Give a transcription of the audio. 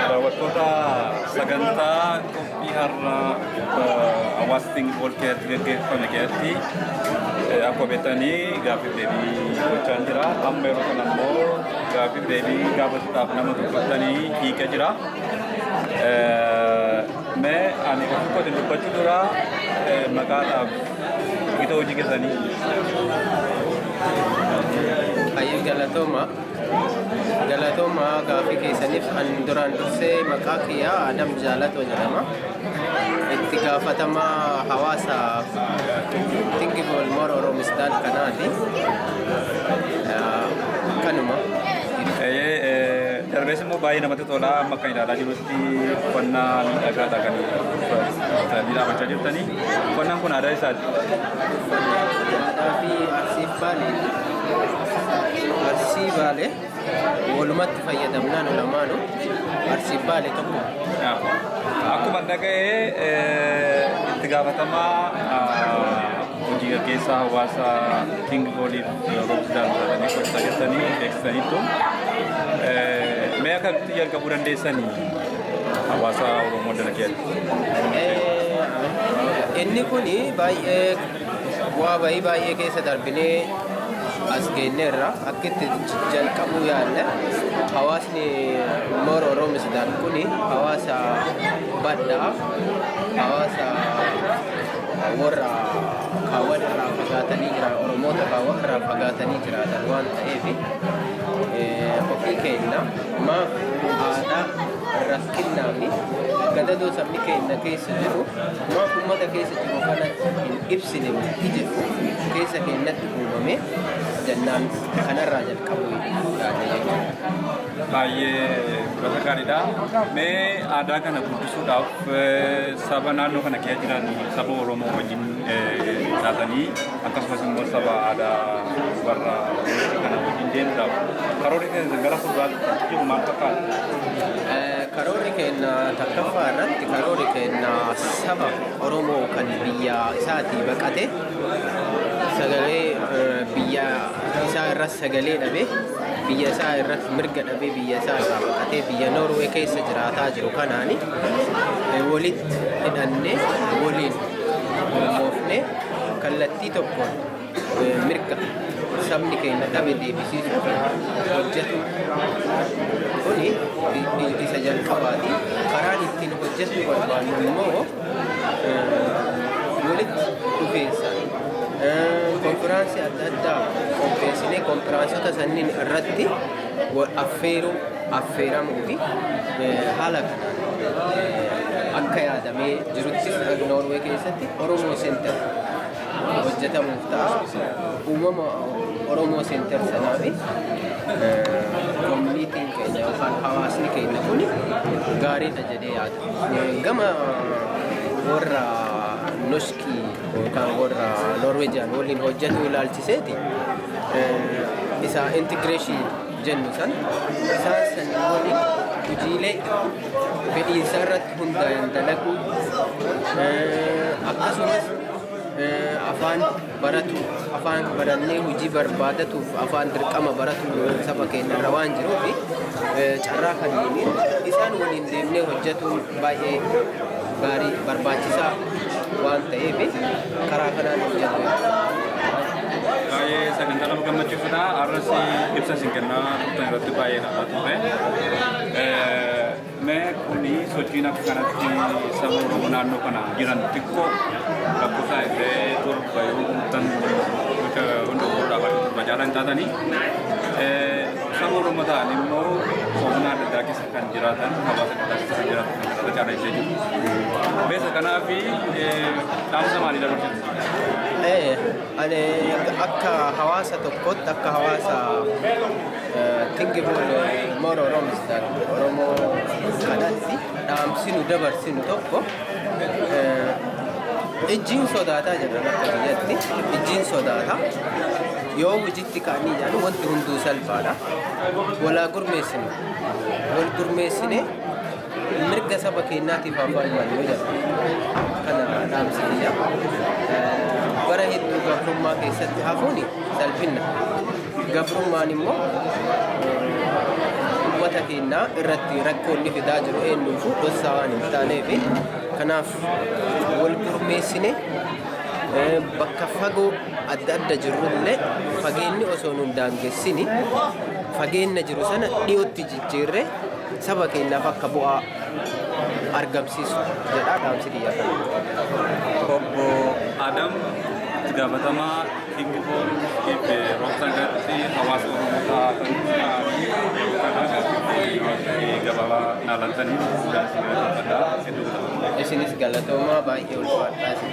Daawwattoota sagantaa qophii har'a hawaasa Singipool keessatti gaggeeffame keessatti akkuma beektanii gaaffiif deebii gochaa jira. Amma yeroo kana immoo gaaffiif deebii gaafataaf nama dubbatanii hiika jira. Mee ani ofii kootiin dubbachuu dura maqaadhaaf gita hojii keessanii. Hayyuu galatooma. Galatooma gaaffii keessaniif an duraan dursee maqaa kiyyaa Adam Jaalatoo jedhama. Itti gaafatama hawaasa Tingi Boolmoor Oroomistaal kanaati. Kanuma. Darbees immoo baay'ee namatti tola amma kan ilaalaa jirutti uffannaa miidhagaadha kan uffatanii dhaabachaa jirtanii uffannaan kun aadaa isaati. Aadaa fi arsiif baali. Arsii Baalee walumatti fayyadamnaan lamaanu Arsii Baalee tokko. Akkuma dhaga'ee itti gaafatamaa hojii gaggeessaa hawaasa King Oliif Roobsdaan taatanii gosa keessanii beeksisaniitu. Mee akkamitti jalqabuu dandeessanii hawaasa Oromoo dalageera? Inni kun baay'ee Bu'aa bahii baay'ee keessa darbinee as geenyeerra akka itti jalqabuu yaadne hawaasni Moor Oroomisdaan kun hawaasa badhaa hawaasa warra kaawwan irraa fagaatanii jiran Oromoota kaawwan irraa fagaatanii jiraatan waan ta'eef ofii keenya maaf aadaa rakkinnaa fi gadadoo sabni keenya keessa jiru Waan ummata keessa jiru kana hin ibsine murtii jedhu keessa keenyatti uumame jennaan kanarraa jalqabuu yaada jechuudha. Baay'ee fudhata gaariidha. Mee aadaa kana guddisuudhaaf saba naannoo kana keessa jiran saba Oromoo wajjin taatanii akkasumas immoo saba aadaa warra walitti kana wajjin deemuudhaaf karoorri keenya gara fuulduraatti jiru maal fakkaata? Karoorri keenya takkaffaa irratti karoorri keenya saba Oromoo kan biyya isaatii baqate sagalee eh, biyya isaa irra sagalee dhabe biyya isaa irra mirga dhabe biyya isaa irraa baqatee biyya Noorwee keessa jiraataa jiru kanaani eh, walitti hidhannee waliin mormoofnee Kallattii tokkoon mirga sabni keenya dhabe deebisiisuuf hojjetu kuni isa jalqabaati. Karaan ittiin hojjechuu barbaannu immoo walitti dhufeensa konfiraansii adda addaa qopheessinee konfiraansota sanniin irratti affeeruu affeeramuu fi haala kanaan akka yaadamee jirutti fudhatu Noorwee keessatti Oromoo Center hojjetamuuf ta'a. Uumama Oromoo Center sanaa fi koominiitiin keenya yookaan hawaasni keenya kun gaariidha jedhee yaada. Gama warra noskii yookaan warra Noorweejiyaan waliin hojjetu ilaalchiseeti isa intigireeshinii jennu san isaan sanii waliin hojiilee fedhiinsa irratti hundaa'een dalaguu akkasumas afaan baratu afaan barannee hojii barbaadatuuf afaan dirqama baratu saba keenya irra waan jiruuf carraa kanniin isaan waliin deemnee hojjetuun baay'ee gaarii barbaachisaa waan ta'eef karaa kanaan hojjetu. Baay'ee sagantaa nama gammachiisudha. Arras ibsa isin kennaa turtan irratti baay'ee nama ture. Mee kuni sochiin akka kanatti saba Oromoo naannoo kana jiran xiqqoo lakkoofsa illee torba yoo guutan gocha hunda fuuldura afaan torba caalaa hin taatanii saba Oromoo ta'an immoo sofna adda addaa keessa kan jiraatan hawaasa adda addaa keessa kan jiraatan kan kanarra caalaa illee jiru. Beesa kanaaf dhaamsa maalii dabarsitu? Ani akka hawaasa tokkootti akka hawaasa thinking more Oromo's than Oromoo kanatti dhaamsinu dabarsinu tokko ijjiin sodaataa jedhan akka biyyatti ijjiin sodaata yoo hojiitti ka'anii jedhan wanti hunduu salphaadha walaa gurmeessinu wal gurmeessinee Mirga saba keenyaatiif haa falmannu jedha. Kana dhaamsi biyya. Bara hedduu gabrummaa keessatti hafuun salphinna. Gabrummaan immoo uummata keenyaa irratti rakkoo inni fidaa jiru eenyuufuu dhossaa waan hin taaneef kanaaf wal gurmeessine bakka fagoo adda adda jirrullee fageenyi osoo nu hin daangessini fageenna jiru sana dhiyootti jijjiirree Saba keenyaaf akka bu'aa argamsiisu jedha dhaamsi kiyya kana. Obbo Adam itti gaafatamaa Think for Keep Roobsan Garbi hawaasa Oromoo taatanii yeroo kana gaaffiitti gabaabaa naa laattanii guddaa isin galateeffadha. Hedduu galatoomaa. Isinis galatoomaa baay'ee ulfaadhaa isin.